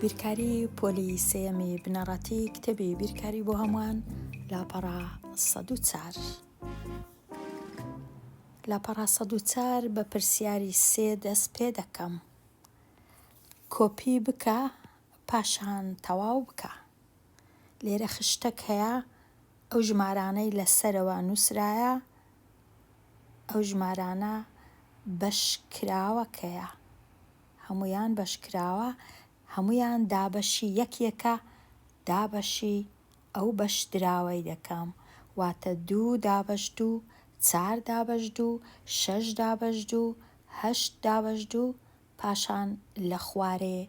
بیرکاری پۆلی سێەمی بنەڕەتی کتێبی بیرکاری بۆ هەمووان لاپەڕا سەد و چار. لە پەڕاسەدوچار بە پرسیاری سێ دەست پێ دەکەم کۆپی بکە پاشان تەواو بکە لێرە خشتەک هەیە ئەو ژمارانەی لەسەرەوە نووسرایە ئەو ژمارانە بەش کراوە کەیە هەموویان بەش کراوە هەموویان دابەشی یەک یەکە دابەشی ئەو بەش دراوەی دەکەم واتە دوو دابەش دوو چار دابەش دوو شەش دابەش دوو هەشت دابەش دوو پاشان لە خوارێ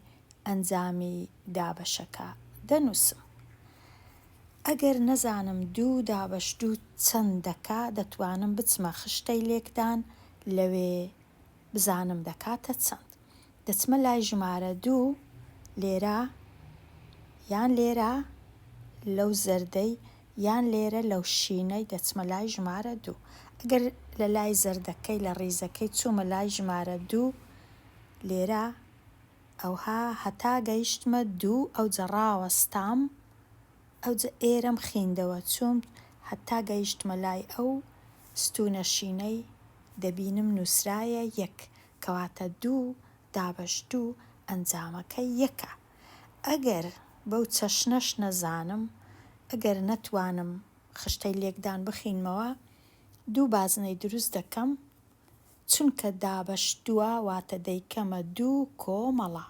ئەنجامی دابەشەکە دەنووسم. ئەگەر نەزانم دوو دابەش دوو چەند دەکا، دەتوانم بچمە خشتەی لێکدان لەوێ بزانم دەکاتە چەند. دەچمە لای ژمارە دوو، لێرە یان لێرە لەو زەردەی یان لێرە لەو شینەی دەچمە لای ژمارە دوو. ئەگەر لە لای زەردەکەی لە ڕیزەکەی چوومە لای ژمارە دوو لێرە، ئەوها هەتا گەیشتمە دوو ئەوجە ڕاوەستام، ئەوجە ئێرەم خیندەوە چووم هەتا گەیشتمە لای ئەو ستوونە شینەی دەبینم نووسرایە یەک، کەواتە دوو دابەش دوو ئەنجامەکەی یەکە. ئەگەر بەو چەشنەش نەزانم، ئەگەر نەتوانم خشتەی لێکدان بخینمەوە، دوو بازنەی دروست دەکەم، چونکە دابەش دووە، واتە دەیکەمە دوو کۆمەڵە.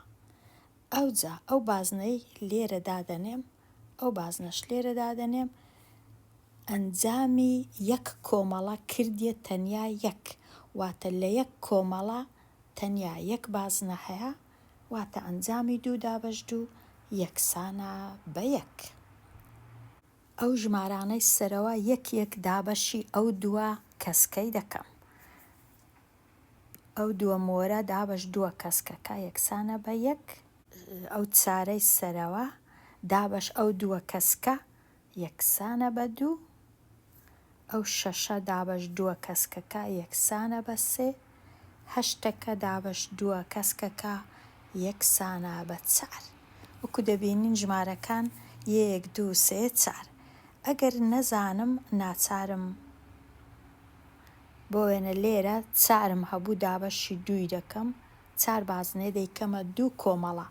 ئەوجا ئەو بازنەی لێرە دادەنێم، ئەو بازنەش لێرە دادەنێم، ئەنجامی یەک کۆمەڵە کردیە تەنیا یەک، واتە لە یەک کۆمەڵە تەنیا یەک بازنە هەیە، واتە ئەنجامی دوو دابەش دوو یەکسانە بە یەک. ئەو ژمارانەی سەرەوە یەک یەک دابەشی ئەو دووە کەسکەی دەکەم. ئەو دووە مۆرە دابەش دووە کەسکەکە یەکسانە بە یەک. ئەو چارەی سەرەوە دابەش ئەو دووە کەسکە یەکسانە بە دوو، ئەو شەشە دابەش دووە کەسکەکە یەکسانە بە سێ، هەشتەکە دابەش دووە کەسکەکە یەکسانە بە چار. وەکو دەبینین ژمارەکان یەیەک دوو سێ چار. ئەگەر نەزانم ناچارم بۆ وێنە لێرە چارم هەبوو دابەشی دووی دەکەم، چار بازنەیە دەیکەمە دوو کۆمەڵە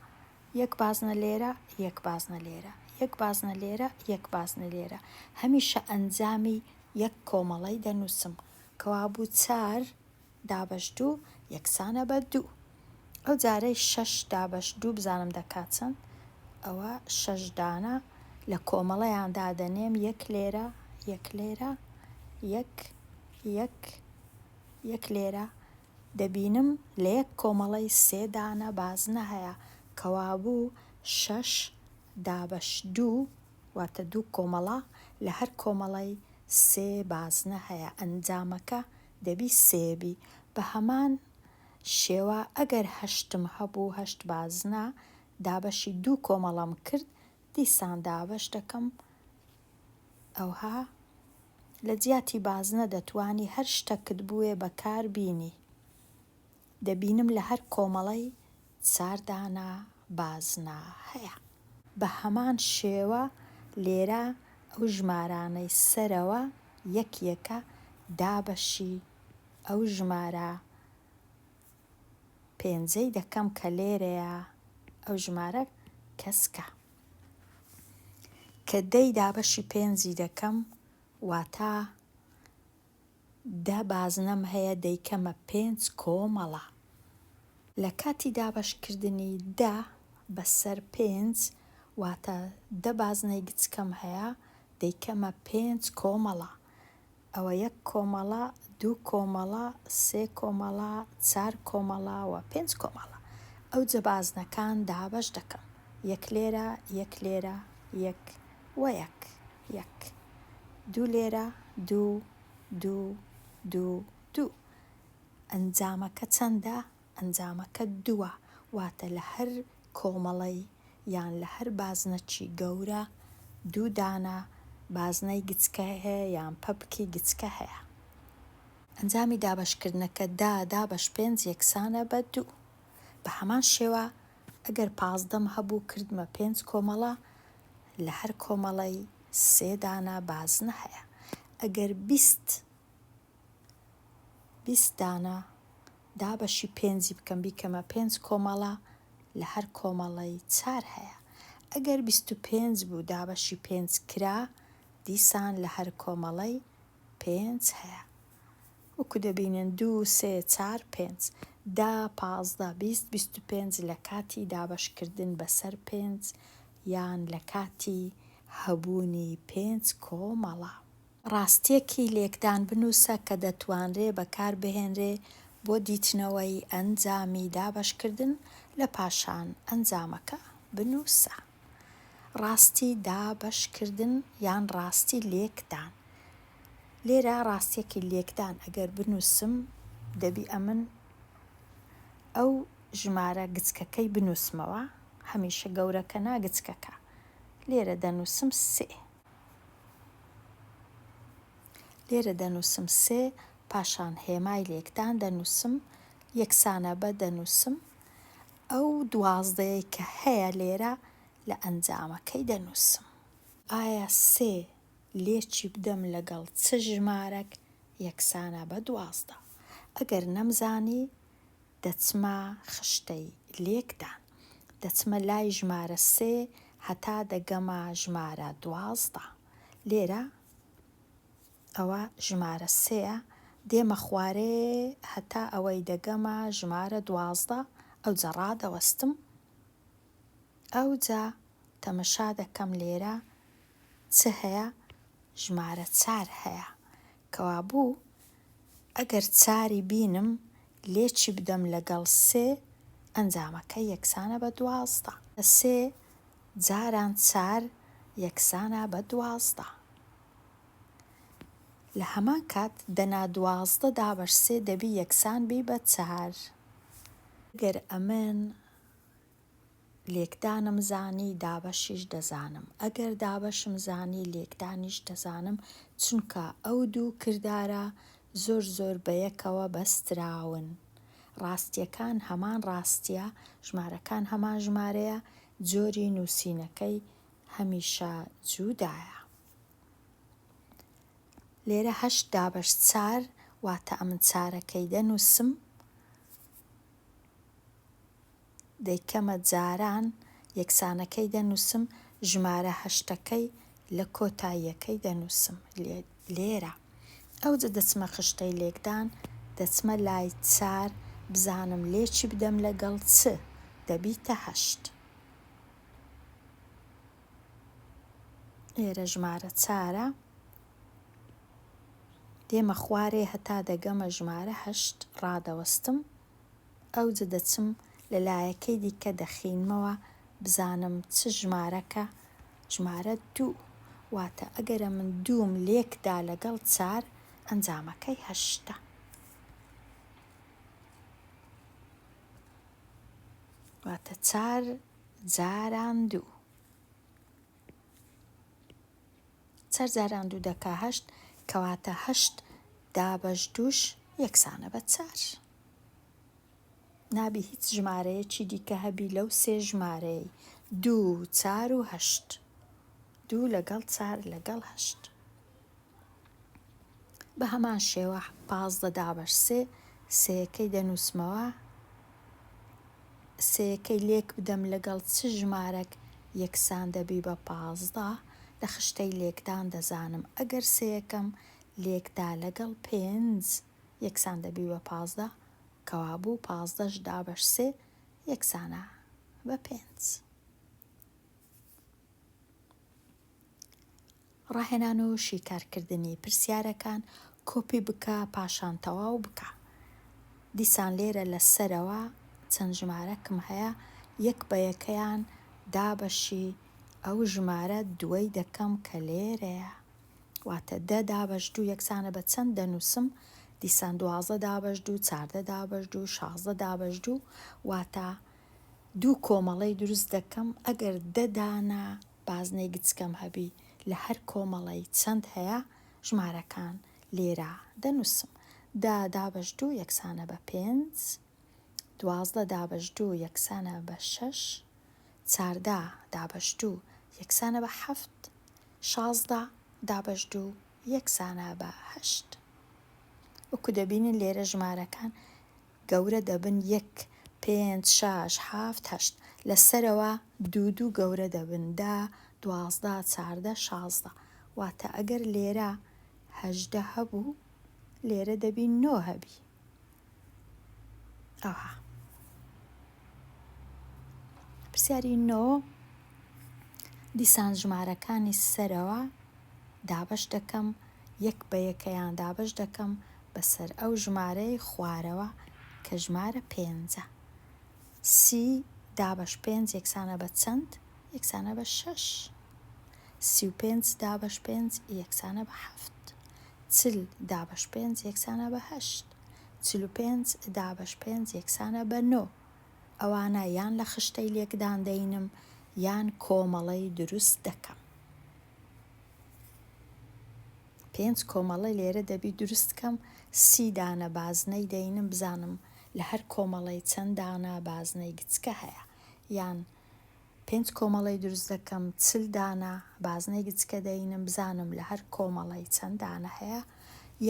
یەک بازنە لێرە، یەک بازنە لێرە، یەک بازنە لێرە، یەک بازنە لێرە، هەمیشە ئەنجامی یەک کۆمەڵەی دەنووسم، کەوابوو چار دابەش دوو یەکسانە بە دوو. ئەو جارەی شەش دابەش دوو بزانم دەکات چەند، ئەوە شەش دانە لە کۆمەڵەیان دادەنێم، یەک لێرە، یەک لێرە، یەک، یەک، یەک لێرە، دەبینم لە یەک کۆمەڵەی سێ دانە بازنە هەیە، کەوابوو شەش دابەش دوو، واتە دوو کۆمەڵە، لە هەر کۆمەڵەی سێ بازنە هەیە، ئەنجامەکە دەبی سێ بی. بە هەمان شێوە ئەگەر هەشتم هەبوو، هەشت بازنە، دابەشی دوو کۆمەڵەم کرد، دیسان دابەش دەکەم. ئەوها لە جیاتی بازنە دەتوانی هەر شتەکت بوێ بە کار بینی. دەبینم لە هەر کۆمەڵەی ساردانا بازنە هەیە. بە هەمان شێوە لێرە ئەو ژمارانەی سەرەوە یەک یەکە دابەشی ئەو ژمارە پێنجەی دەکەم کە لێرەیە ئەو ژمارە کەسکە کە دەی دابەشی پێنجی دەکەم واتا دە بازنەم هەیە دەیکەمە پێنج کۆمەڵە لە کاتی دابەشکردنی دە بەسەر پێنج واتە دە بازنەی گچکەم هەیە دەیکەمە پێنج کۆمەڵە ئەوە یەک کۆمەڵە، دوو کۆمەڵە، سێ کۆمەڵە، چار کۆمەڵە و پێنج کۆمەڵە. ئەوجە بازنەکان دابەش دەکەم، یەک لێرە، یەک لێرە، یەک و یەک، یەک. دوو لێرە، دوو، دوو، دوو، دوو. ئەنجامەکە چەندە؟ ئەنجامەکە دووە، واتە لە هەر کۆمەڵەی یان لە هەر بازنەکی گەورە دوو دانە بازنەی گچکە هەیە یان پەپکی گچکە هەیە. ئەنجامی دابەشکردنەکە دە دابەش پێنج یەکسانە بە دوو. بە هەمان شێوە ئەگەر پازدەم هەبوو کردمە پێنج کۆمەڵە لە هەر کۆمەڵەی سێ دانە بازنە هەیە. ئەگەر بیست بیست دانە دابەشی پێنجی بکەم بیکەمە پێنج کۆمەڵە لە هەر کۆمەڵەی چار هەیە ئەگەر بیست و پێنج بوو دابەشی پێنج کرا دیسان لە هەر کۆمەڵەی پێنج هەیە وەکو دەبینن دوو سێ چار پێنج دا پازدە بیست بیست و پێنج لە کاتی دابەشکردن بەسەر پێنج یان لە کاتی هەبوونی پێنج کۆمەڵە ڕاستییەکی لێکدان بنووسە کە دەتوانرێ بەکار بهێنرێ بۆ دیتنەوەی ئەنجامی دابەشکردن لە پاشان ئەنجامەکە بنووسە. ڕاستی دابەشکردن یان ڕاستی لێکدان. لێرە ڕاستییەکی لێکدان ئەگەر بنووسم دەبی ئەمن ئەو ژمارە گچکەکەی بنووسمەوە، هەمیشە گەورەکە نا گچکەکە. لێرە دەنووسم سێ. لێرە دەنووسم سێ، پاشان هێمای لێکدان دەنووسم، یەکسانە بە دەنووسم، ئەو دوازدەیەی کە هەیە لێرە لە ئەنجامەکەی دەنووسم. ئایا سێ لێکی بدەم لەگەڵ چ ژمارەک یەکسانە بە دوازدە؟ ئەگەر نەمزانی دەچمە خشتەی لێکدان. دەچمە لای ژمارە سێ هەتا دەگەمە ژمارە دوازدە. لێرە ئەوە ژمارە سێیە، دێمە خوارێ هەتا ئەوەی دەگەمە ژمارە دوازدە، ئەوجە ڕادەوەستم. ئەوجە تەمەشا دەکەم لێرە چ هەیە؟ ژمارە چار هەیە. کەوابوو ئەگەر چاری بینم لێ چی بدەم لەگەڵ سێ ئەنجامەکە یەکسانە بە دوازدە. سێ جاران چار یەکسانە بە دوازدە. لە هەمان کات دەنا دوازدە دابەش سێ دەبی یەکسان بی بە چار. ئەگەر ئەمن لێکدانم زانی دابەشیش دەزانم ئەگەر دابەشم زانی لێکدانیش دەزانم چونکە ئەو دوو کردارە زۆر زۆر بەیەکەوە بەستراون ڕاستیەکان هەمان ڕاستیە ژمارەکان هەمان ژمارەیە جۆری نوسینەکەی هەمیشە جودایە لێرە هەشت دابەش چار واتە ئەمن چارەکەی دەنوسم دەیکەمە جاران یەکسانەکەی دەنووسم، ژمارە هەشتەکەی لە کۆتاییەکەی دەنووسم. لێرە. ئەوجە دەچمە خشتەی لێکدان، دەچمە لای چار بزانم لێکی بدەم لەگەڵ چ، دەبیتە هەشت. لێرە ژمارە چارە. دێمە خوارێ هەتا دەگەمە ژمارە هەشت، ڕادەوەستم، ئەوجە دەچم لە لایەکەی دیکە دەخینمەوە بزانم چ ژمارەکە، ژمارە دوو، واتە ئەگەرە من دووم لێکدا لەگەڵ چار ئەنجامەکەی هەشتە. واتە چار جاران دوو. چەر جاران دوو دەکا هەشت کەواتە هەشت دابەش دووش یەکسانە بە چار. نابی هیچ ژمارەیەکی دیکە هەبی لەو سێ ژمارەی دوو چار و هەشت دوو لەگەڵ چار لەگەڵ هەشت. بە هەمان شێوە پازدە دابەش سێ سێەکەی دەنووسمەوە سێەکەی لێک بدەم لەگەڵ چ ژمارەک یەکسان دەبی بە پازدە لە خشتەی لێکدان دەزانم ئەگەر سێەکەم لێکدا لەگەڵ پێنج یەکسان دەبی بە پازدە کەوابوو پازدەش دابەش سێ یەکسانە بە پێنج. ڕاهێنان و شیکارکردنی پرسیارەکان کۆپی بکە پاشان تەواو بکە دیسان لێرە لە سەرەوە چەند ژمارەکم هەیە یەک بە یەکەیان دابەشی ئەو ژمارە دووەی دەکەم کە لێرەیە واتە دە دابەش دوو یەکسانە بە چەند دەنووسم دیسان دوازدە دابەش دوو چاردە دابەش دوو شازدە دابەش دوو واتە دوو کۆمەڵەی دروست دەکەم ئەگەر دە دانە بازنەی گچکەم هەبی لە هەر کۆمەڵەی چەند هەیە ژمارەکان لێرە دەنووسم دە دابەش دوو یەکسانە بە پێنج دوازدە دابەش دوو یەکسانە بە شەش چاردە دابەش دوو یەکسانە بە حەفت شازدە دابەش دوو یەکسانە بە هەشت وەکو دەبینن لێرە ژمارەکان گەورە دەبن یەک پێنج شاش حافت هەشت لە سەرەوە. دوو دوو گەورە دەبن دە دوازدە چاردە شازدە واتە ئەگەر لێرە هەژدە هەبوو لێرە دەبی نۆ هەبی ئەوها. پرسیاری نۆ دیسان ژمارەکانی سەرەوە دابەش دەکەم یەک بە یەکەیان دابەش دەکەم بەسەر ئەو ژمارەی خوارەوە کە ژمارە پێنجە سی دابەش پێنج یەکسانە بە چەند یەکسانە بە شەش سی و پێنج دابەش پێنج یەکسانە بە حەفت چل دابەش پێنج یەکسانە بە هەشت چل و پێنج دابەش پێنج یەکسانە بە نۆ. ئەوانە یان لە خشتەی لێکدان دەینم یان کۆمەڵەی دروست دەکەم. پێنج کۆمەڵە لێرە دەبی دروست کەم سی دانە بازنەی دەینم بزانم لە هەر کۆمەڵەی چەند دانە بازنەی گچکە هەیە یان پێنج کۆمەڵەی دروست دەکەم چل دانە بازنەی گچکە دەینم بزانم لە هەر کۆمەڵەی چەند دانە هەیە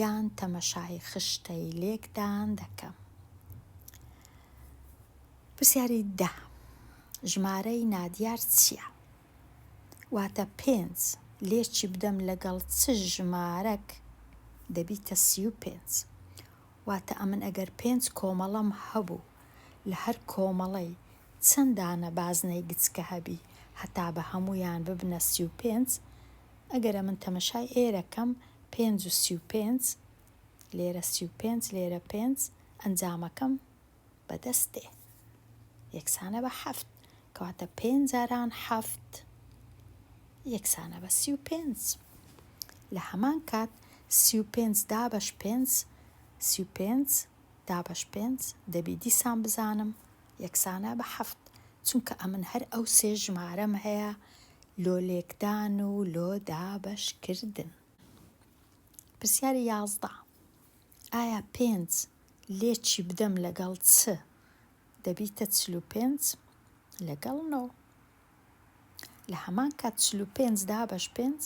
یان تەمەشای خشتەی لێکدان دەکەم پرسیاری دە ژمارەی نادیار چییە؟ واتە پێنج لێکی بدەم لەگەڵ چ ژمارەک دەبیتە سی و پێنج واتە ئەمن ئەگەر پێنج کۆمەڵەم هەبوو لە هەر کۆمەڵەی چەند دانە بازنەی گچکە هەبی هەتا بە هەموویان ببنە سی و پێنج ئەگەر ئەمن تەمەشای ئێرە کەم پێنج و سی و پێنج لێرە سی و پێنج لێرە پێنج ئەنجامەکەم بە دەست دێ یەکسانە بە حەفت کەواتە پێنج جاران حەفت یەکسانە بە سی و پێنج لە هەمان کات سی و پێنج دابەش پێنج سی و پێنج دابەش پێنج دەبی دیسان بزانم یەکسانە بە حەفت چونکە ئەمن هەر ئەو سێ ژمارەم هەیە لۆ لێکدان و لۆ دابەش کردن. پرسیاری یازدە ئایا پێنج لێکی بدەم لەگەڵ چ دەبیتە چل و پێنج لەگەڵ نۆ؟ لە هەمان کات چل و پێنج دابەش پێنج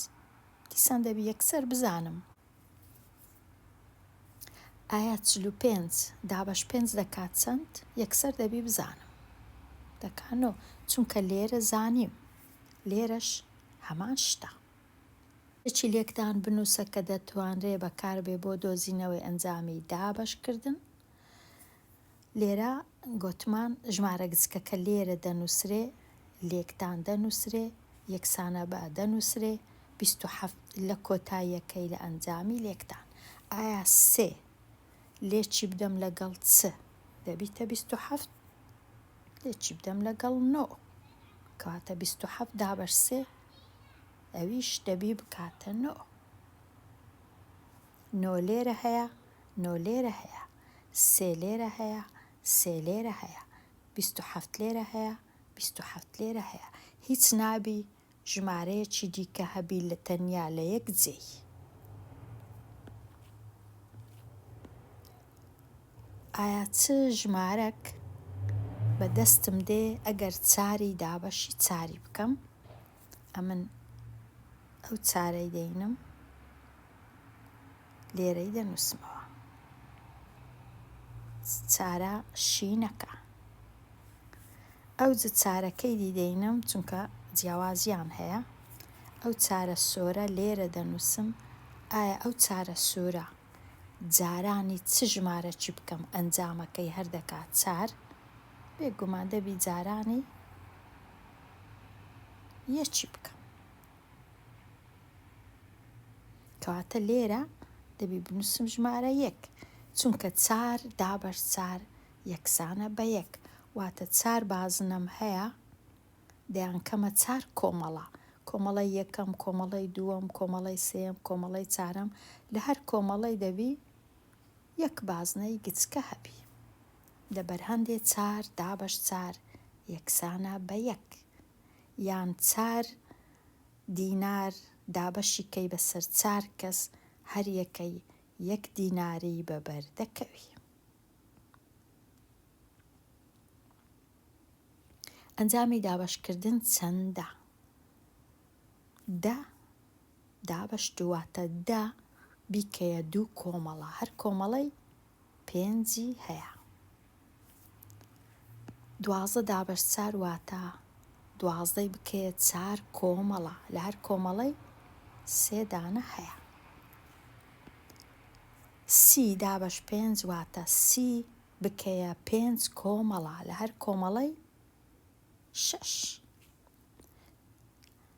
دیسان دەبی یەکسەر بزانم ئایا چل و پێنج دابەش پێنج دەکات چەند یەکسەر دەبی بزانم دەکانۆ چونکە لێرە زانیم لێرەش هەمان شتە چی لێکدان بنووسە کە دەتوانرێ بەکاربێ بۆ دۆزینەوەی ئەنجامی دابەشکردن لێرە گۆتمان ژمارە گچکە کە لێرە دەنووسرێ، لێکدان دەنووسرێ، یەکسانە بە دەنووسرێ، بیست و حەفت لە کۆتاییەکەی لە ئەنجامی لێکدان. ئایا سێ لێ چی بدەم لەگەڵ چ دەبیتە بیست و حەفت؟ لێ چی بدەم لەگەڵ نۆ؟ کەواتە بیست و حەفت دابەش سێ ئەویش دەبی بکاتە نۆ. نۆ لێرە هەیە، نۆ لێرە هەیە. سێ لێرە هەیە، سێ لێرە هەیە. بیست و حەفت لێرە هەیە، بیست و حەفت لێرە هەیە. هیچ نابی ژمارەیەکی دیکە هەبی لە تەنیا لە یەک جێی. ئایا چ ژمارەک بە دەستم دێ ئەگەر چاری دابەشی چاری بکەم؟ ئەمن ئەو چارەی دەینم لێرەی دەنووسمەوە چارە شینەکە ئەو جە چارەکەی دی دەینم چونکە جیاوازیان هەیە ئەو چارە سۆرە لێرە دەنووسم ئایا ئەو چارە سوورە جارانی چ ژمارە چی بکەم ئەنجامەکەی هەردەکات چار بێگومان دەبی جارانی یە چی بکەم کەواتە لێرە دەبی بنووسم ژمارە یەک چونکە چار دابەر چار یەکسانە بە یەک واتە چار بازنەم هەیە دەیان کەمە چار کۆمەڵە کۆمەڵی یەکەم کۆمەڵی دووەم کۆمەڵی سێم کۆمەڵی چارم لە هەر کۆمەڵی دەبی یەک بازنەی گچکە هەبی لە بەرهەندێ چار دابەش چار یەکسانە بە یەک یان چار دینار دابەشی کەی بە سەر چار کەس هەر یەکەی یەک دیناری بە بەر دەکەوی. ئەنجامی دابەش کردن چەندە؟ دە دابەشت واتە دە بیکەیە دوو کۆمەڵە هەر کۆمەڵەی پێنجی هەیە دوازدە دابەش چار واتە دوازدەی بکەیە چار کۆمەڵە لە هەر کۆمەڵەی سێدانە هەیە سی دابەش پێنج واتە سی بکەیە پێنج کۆمەڵە لە هەر کۆمەڵەی شش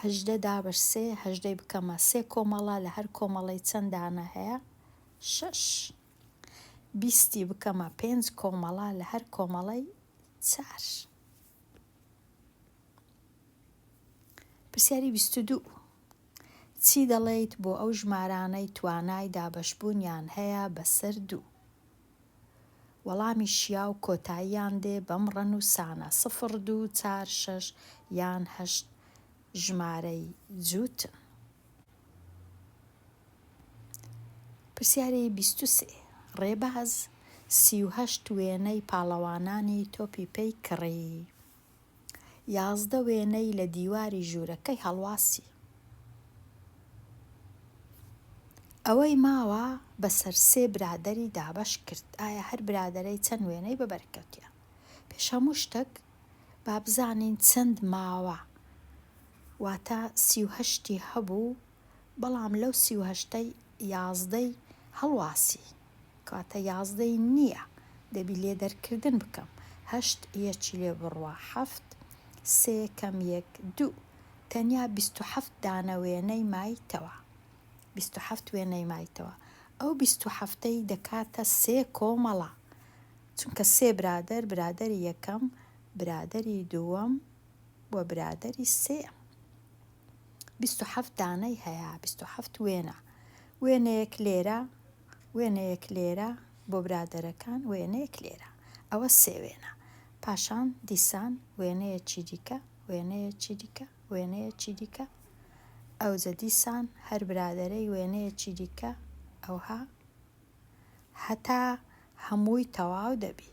هەژدە دابەش سێ هەژدەی بکەمە سێ کۆمەڵە لە هەر کۆمەڵەی چەند دانە هەیە شەش بیستی بکەمە پێنج کۆمەڵە لە هەر کۆمەڵەی چار پرسیاری بیست دوو چی دەڵێیت بۆ ئەو ژمارانەی توانای دابەشبوونیان هەیە بەسەر دوو وەڵامی شیاو کۆتاییان دێ بەم ڕەنووسانە، سفر دوو چار شەش یان هەشت ژمارەی جووتن. پرسیاری بیست و سێ، ڕێباز سی و هەشت وێنەی پاڵەوانانی تۆپی پێی کڕی. یازدە وێنەی لە دیواری ژوورەکەی هەڵواسی. ئەوەی ماوە بەسەر سێ برادەری دابەش کرد. ئایا هەر برادەرەی چەند وێنەی بە بەرکەوتیان؟ پێش هەموو شتەک با بزانین چەند ماوە؟ واتە سی و هەشتی هەبوو بەڵام لەو سی و هەشتەی یازدەی هەڵواسی کەواتە یازدەی نیە دەبی لێ دەرکردن بکەم هەشت یەکی لێ بڕوا حەفت سێ کەم یەک دوو تەنیا بیست و حەفت دانە وێنەی مایتەوە بیست و حەفت وێنەی مایتەوە ئەو بیست و حەفتەی دەکاتە سێ کۆمەڵە چونکە سێ برادەر برادەری یەکەم برادەری دووەم و برادەری سێم. بیست و حەفت دانەی هەیە بیست و حەفت وێنە وێنەیەک لێرە وێنەیەک لێرە بۆ برادەرەکان وێنەیەک لێرە ئەوە سێ وێنە پاشان دیسان وێنەیە چی دیکە وێنەیە چی دیکە وێنەیە چی دیکە ئەوجە دیسان هەر برادەرەی وێنەیە چی دیکە ئەوها هەتا هەمووی تەواو دەبی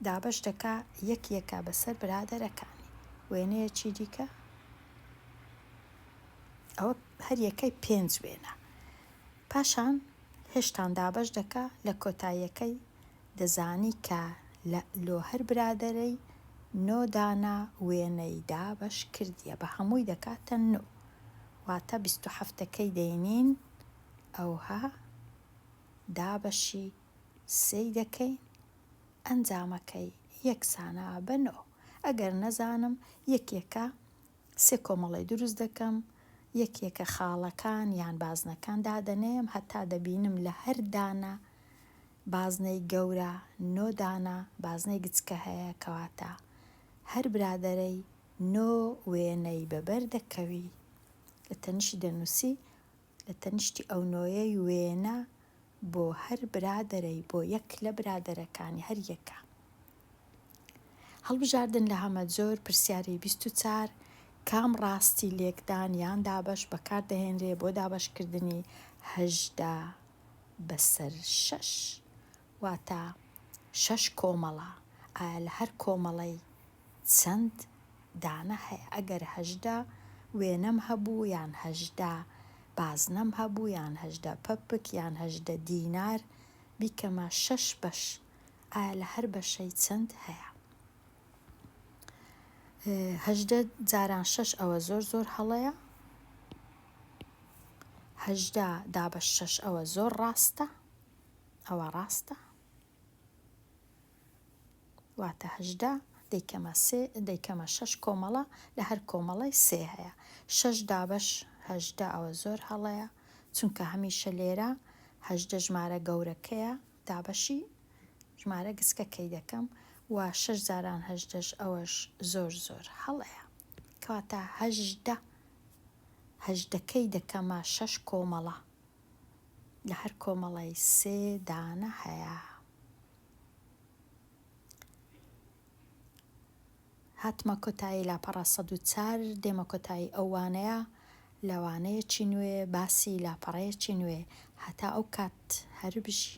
دابەش دەکا یەک یەکە بەسەر برادەرەکانی وێنەیەکی دیکە ئەوە هەر یەکەی پێنج وێنە پاشان هێشتان دابەش دەکا لە کۆتاییەکەی دەزانی کە لۆ هەر برادەرەی نۆ دانە وێنەی دابەش کردیە بە هەمووی دەکاتە نۆ واتە بیست و حەفتەکەی دەینین ئەوها دابەشی سێی دەکەین ئەنجامەکەی یەکسانە بە نۆ ئەگەر نەزانم یەکێکە سێ کۆمەڵەی دروست دەکەم یەکێکە خاڵەکان یان بازنەکان دادەنێم هەتا دەبینم لە هەر دانە بازنەی گەورە نۆ دانە بازنەی گچکە هەیە کەواتە هەر برادەرەی نۆ وێنەی بەبەر دەکەوی. لە تەنیشتی دەنووسی، لە تەنیشتی ئەو نۆیەی وێنە بۆ هەر برادەرەی، بۆ یەک لە برادەرەکانی هەر یەکە. هەڵبژاردن لە هەمەجۆر پرسیاری بیست و چوار کام ڕاستی لێکدان یان دابەش بەکار دەهێنرێ بۆ دابەشکردنی هەژدە بەسەر شەش؟ واتە، شەش کۆمەڵە، ئایا لە هەر کۆمەڵەی چەند دانە هەیە؟ ئەگەر هەژدە وێنەم هەبوو یان هەژدە بازنەم هەبوو یان هەژدە پەپک یان هەژدە دینار بیکەمە شەش بەش، ئایا لە هەر بەشەی چەند هەیە؟ هەژدە جاران شەش ئەوە زۆر زۆر هەڵەیە، هەژدە دابەش شەش ئەوە زۆر ڕاستە، ئەوە ڕاستە؟ واتە هەژدە دەیکەمە سێ دەیکەمە شەش کۆمەڵە لە هەر کۆمەڵەی سێ هەیە شەش دابەش هەژدە ئەوە زۆر هەڵەیە چونکە هەمیشە لێرە هەژدە ژمارە گەورەکەیە دابەشی ژمارە گسکەکەی دەکەم و شەش جاران هەژدەش ئەوەش زۆر زۆر هەڵەیە کەواتە هەژدە هەژدەکەی دەکەمە شەش کۆمەڵە لە هەر کۆمەڵەی سێ دانە هەیە. هاتمە کۆتایی لاپەڕە سەد و چار دێمە کۆتایی ئەو وانەیە لە وانەیەکی نوێ باسی لاپەڕەیەکی نوێ هەتا ئەو کات هەربژی.